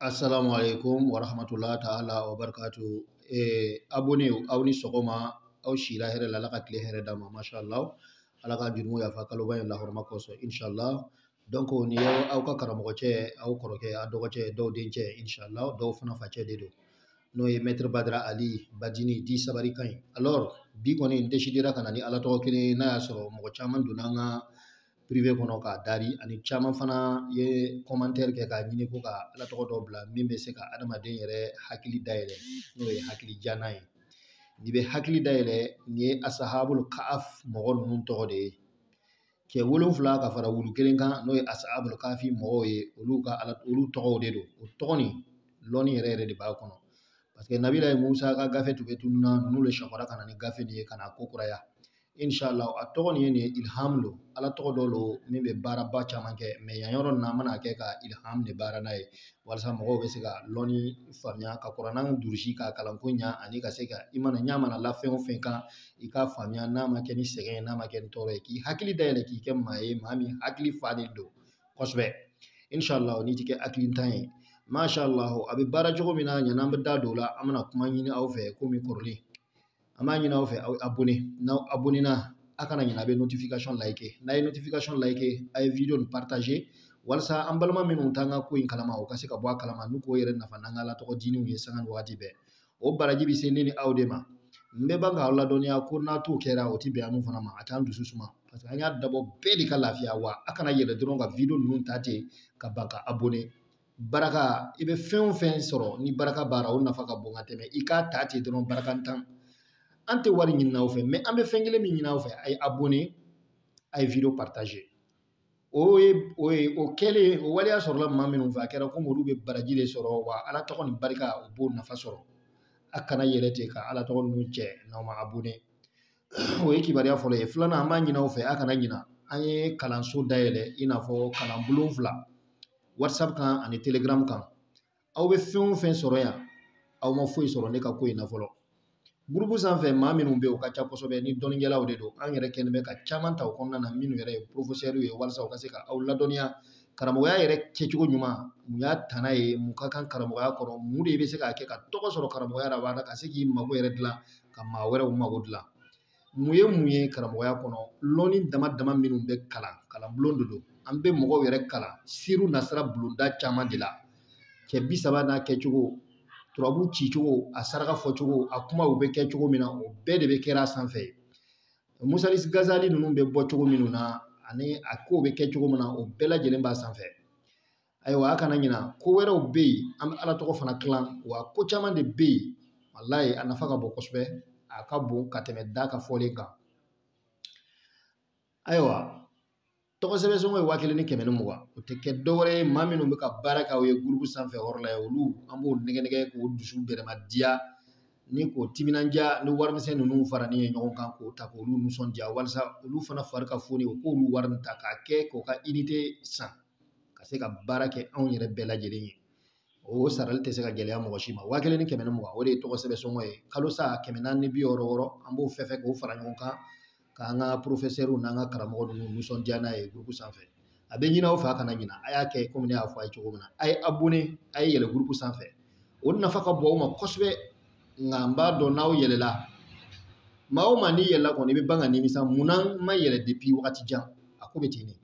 Assalamu alaikum wa rahmatullahi ta'ala wa barakatuh. Eh, abonné aw ni sɔgɔma aw sira hɛrɛ la ala ka tile hɛrɛ d'a ma masha Allah ala ka jurumu yafa kaloba in la hɔrɔma kosɔn insha Allah donc nin y'aw ka karamɔgɔcɛ aw kɔrɔkɛ a dɔgɔcɛ dɔw dencɛ insha Allah dɔw fana facɛ de don n'o ye maître Badra Ali Badini dit Sabari ka ɲi alors bi kɔni n décidera ka na ni ala tɔgɔ kelen n'a y'a sɔrɔ mɔgɔ caman donna an ka privé kɔnɔ k'a dari ani caman fana ye commentaire kɛ k'a ɲini ko ka ala tɔgɔ dɔ bila min bɛ se ka adamaden yɛrɛ hakili dayɛlɛ n'o ye hakili jana ye n'i bɛ hakili dayɛlɛ nin ye ashabul kahf mɔgɔ ninnu tɔgɔ de ye cɛ wolonfila ka fara wulu kelen kan n'o ye ashabul kahfi mɔgɔw ye olu ka ala olu tɔgɔw de don o tɔgɔ nin lɔnni yɛrɛ yɛrɛ de b'a kɔnɔ parce que nabilayi Musa ka gafe tun bɛ tununna ninnu de sɔgɔra ka na ni gafe nin ye ka na ko kuraya inshallah a tɔgɔ nin ye nin ye ilham don ala tɔgɔ dɔ don min bɛ baaraba caman kɛ mais yan yɔrɔ nin na an mana kɛ ka ilham de baara n'a ye walasa mɔgɔw bɛ se ka lɔnni faamuya ka kurana durusi ka kalanko ɲa ani ka se ka i mana ɲa mana la fɛn o fɛn kan i k'a faamuya n'a ma kɛ ni sɛgɛn ye n'a ma kɛ ni tɔɔrɔ ye k'i hakili dayɛlɛ k'i kɛ maa ye maa min hakili falen don kosɛbɛ inshallah n'i ti kɛ hakilintan ye mashallah a bɛ baara cogo min na yani an bɛ da don o la an bɛna kuma ɲini aw fɛ komi kɔrɔlen an b'a ɲini aw fɛ aw abonné n'aw abonnéna a kana ɲinɛ a bɛ notification like n'a ye notification like a ye video nin partager walasa an balima minnu t'an ka ko in kalama u ka se ka bɔ a kalama n'u k'o yɛrɛ nafa n'an ka ala tɔgɔ dininw ye sanga ni wagati bɛɛ o baraji bɛ se ne ni aw de ma n bɛ ban k'aw ladɔnniya ko n'a t'o kɛra o ti bɛn an fana ma a t'an dusu suma parce que an y'a dabɔ bɛɛ de ka lafiya wa a kana yɛlɛ dɔrɔn ka video ninnu ta ten ka ban ka abonné baraka i bɛ fɛn o fɛn sɔrɔ ni baraka b'a ra o nafa ka bon ka tɛmɛ i k'a ta ten dɔrɔn barakantan an tɛ wari ɲinina aw fɛ mais an bɛ fɛn kelen min ɲini aw fɛ a ye abonné a ye video partager o ye o ye o kɛlen o waleya sɔrɔla maa minnu fɛ a kɛra komi olu bɛ baraji de sɔrɔ wa ala tɔgɔ nin barika u b'o nafa sɔrɔ a kana yɛlɛ ten ka ala tɔgɔ ninnu cɛ n'aw ma abonné o ye kibaruya fɔlɔ ye filanan an b'a ɲini aw fɛ a kana ɲina an ye kalanso dayɛlɛ i n'a fɔ kalanbulon fila whatsapp kan ani telegram kan aw bɛ fɛn o fɛn sɔrɔ yan aw ma foyi sɔrɔ ne ka ko in na fɔlɔ gurupu sanfɛ maa minnu bɛ yen o ka ca kosɛbɛ ni dɔnnikɛlaw de don an yɛrɛ kɛlen bɛ ka caman ta o kɔnɔna na minnu yɛrɛ ye porofosɛriw ye walasa u ka se ka aw ladɔnniya karamɔgɔya yɛrɛ kɛcogo ɲuman mun y'a tana ye mun ka kan karamɔgɔya kɔrɔ mun de bɛ se k'a kɛ ka tɔgɔ sɔrɔ karamɔgɔya la ka se k'i mago yɛrɛ dilan ka maa wɛrɛw mago dilan mun ye mun ye karamɔgɔya kɔnɔ lɔnni dama dama minnu bɛ kalan kalanbulon de don an bɛ mɔgɔw yɛrɛ kalan siriw nasira bulonda caman de la cɛ bi saba n'a kɛcogo turabu cicogo a saraka fɔcogo a kumaw bɛ kɛ cogo min na o bɛɛ de bɛ kɛra a sanfɛ musalis Gazali ninnu bɛ bɔ cogo minnu na ani a kow bɛ kɛ cogo min na o bɛɛ lajɛlen b'a sanfɛ ayiwa a kana ɲina ko wɛrɛw bɛ yen an bɛ ala tɔgɔ fana tilan wa ko caman de bɛ yen walayi a nafa ka bon kosɛbɛ a ka bon ka tɛmɛ da ka fɔlen kan ayiwa tɔgɔ sɛbɛn sɔngɔ ye waa kelen ni kɛmɛ ni mugan o tɛ kɛ dɔwɛrɛ ye maa minnu bɛ ka baara kɛ aw ye gurupu sanfɛ yɔrɔ la olu an b'o nɛgɛ nɛgɛ k'o dusu bɛrɛma diya ni k'o timinandiya ni warimisɛn ninnu faralen ye ɲɔgɔn kan k'o ta k'olu nisɔndiya walasa olu fana fari ka foni u k'olu wari ta k'a kɛ k'u ka inite san ka se ka baara kɛ anw yɛrɛ bɛɛ lajɛlen ye o sarali tɛ se ka gɛlɛya mɔgɔ si ma waa kelen ni kɛmɛ ni mugan o de ye tɔgɔ sɛbɛn sɔngɔ ye kalo sa kɛmɛ naani ni bi wɔɔrɔ wɔɔrɔ an b'o fɛn fɛn k'o fara ɲɔgɔn kan k'an ka porofɛsɛriw n'an ka karamɔgɔ ninnu nisɔndiya n'a ye gurupu sanfɛ a bɛ ɲin'aw fɛ a kana ɲina a y'a kɛ komi ne y'a fɔ a ye cogo min na a ye abone a ye yɛlɛ gurupu sanfɛ o nafa ka bon aw ma kosɛbɛ nka n b'a dɔn n'aw yɛlɛla maa o maa n'i yɛlɛla kɔni i bɛ ban ka nimisa mun na n ma yɛlɛ depi wagati jan a ko bɛ ten de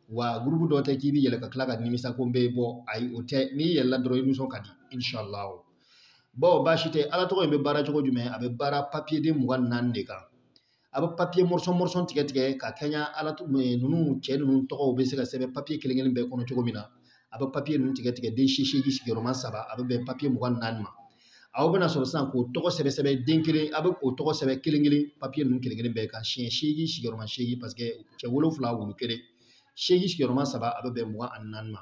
wa gurupu dɔ tɛ k'i bɛ yɛlɛ ka tila ka nimisa ko n bɛ bɔ ayi o tɛ n'i yɛlɛla dɔrɔn i nisɔn ka di inshallah bon baasi tɛ ala tɔgɔ in bɛ baara cogo jumɛn a bɛ baara papiye den mugan ni naani de kan a bɛ papiye mɔrɔsɔn mɔrɔsɔn tigɛ tigɛ ka kɛɲɛ maa ninnu cɛ ninnu tɔgɔw bɛ se ka sɛbɛn papiye kelen kelen bɛɛ kɔnɔ cogo min na a bɛ papiye ninnu tigɛ tigɛ den seegin sigiyɔrɔma saba a bɛ bɛn papiye mugan ni naani ma aw bɛna sɔrɔ sisan k'o tɔgɔ sɛbɛn sɛbɛn den kelen a bɛ o tɔgɔ sɛbɛn kelen kelen papiye ninnu kelen kelen bɛɛ kan siɲɛ seegin sigiyɔrɔma seegin paseke cɛ wolonwula wulu kelen seegin sigiyɔrɔma saba a bɛ bɛn mugan ani naani ma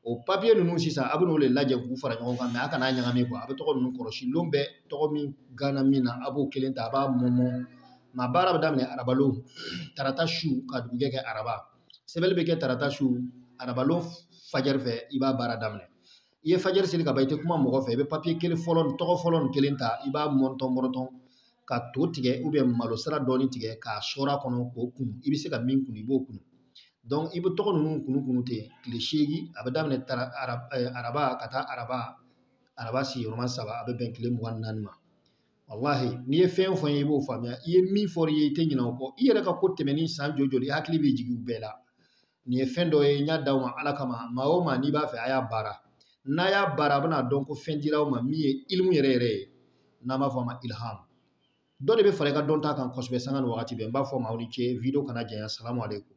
o papiye ninnu sisan a bɛ n'o dalajɛ k'u fara ɲɔgɔn kan mɛ a kana ɲagami kuwa a bɛ tɔgɔ ninnu kɔlɔsi lon bɛɛ tɔgɔ min gana min na a b'o kelen ta a b'a mɔmɔ nka baara bɛ daminɛ arabalon tarata su ka dugujɛ kɛ araba sɛbɛnli bɛ kɛ tarata su arabalon fajɛri fɛ i b'a baara daminɛ i ye fajɛri seli ka ban i tɛ kuma mɔgɔ fɛ i bɛ papiye kelen fɔlɔ nin tɔgɔ fɔlɔ nin kelen ta i b'a mɔntɔn mɔrɔtɔn ka to tigɛ ubiyɛn malo sira dɔɔni tigɛ k'a sɔɔr'a kɔnɔ k'o kunu i bɛ se ka min kunu i b'o kunu dɔnki i bɛ tɔgɔ ninnu kunu kunu ten tile seegin a bɛ daminɛ tara araba ka taa araba araba sigiyɔrɔma saba a bɛ bɛn tile mugan ni naani ma walahi n'i ye fɛn o fɛn ye i b'o faamuya i ye min fɔra i ye i tɛ ɲinɛ o kɔ i yɛrɛ ka ko tɛmɛnen san joli joli i hakili bɛ jigin u bɛɛ la nin ye fɛn dɔ ye n y'a d'aw ma ala kama maa o maa n'i b'a fɛ a y'a baara n'a y'a baara a bɛna dɔn ko fɛn dira aw ma min ye ilimu yɛrɛ yɛrɛ ye n'an b'a fɔ a ma ilham dɔ de bɛ fara i ka dɔnta kan kosɛbɛ sanga ni wagati bɛɛ n b'a fɔ maaw ni ce video kana janya salamu aleykum